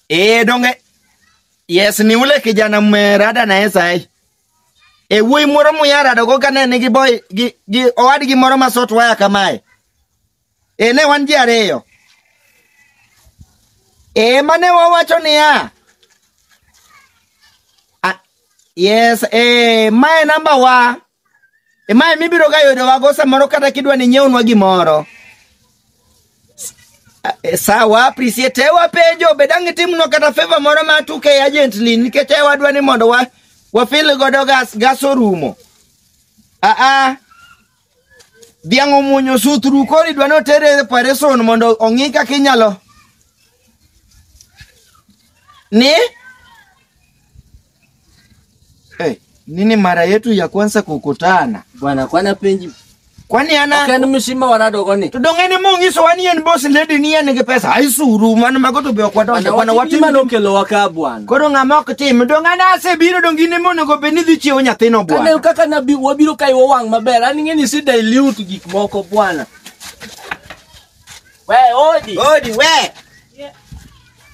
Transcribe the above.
Eh donge yes ni ule kijana mmerada naye sahi. E wuoyi moro muyara dogo kane nigi boy gi, gi owadgi moro ma sot waya kamae. E ne wan ji ariyo. E mane wawacho niya. Ah, yes, e mae namba wa. Emae mibiro ga yudo wago samoro kata kidwa ni nyewnwa gimoro. Eh, Sawa, appreciate e wapenjo be dang' itimnwa kata favor moro ma tuke e agent ni nikech e wadwa ni mondo wa wafil godo gas gas orumo. Ah ah. Dhiang' omuonyo sutru koro idwa ni otere e operation mondo ong'i kaka inyalo ni Hey, nini mara yetu ya kwanza kukutana? Bwana kwana penji. Kwani ana Kani mshima warado koni. tudongeni mungiso wani yen boss lady ni yen ngi pesa aisuru mano magoto be kwa donde kwana wati Watima lokelo waka bwana. koro ng'ama ok tim dongana asebiro dongine monego bed ni dhi chiewo nyathino Kane bwana kaka nabi wabiro kai wang' maber. An ing'eni si dilute gik moko bwana. We odi. Odi we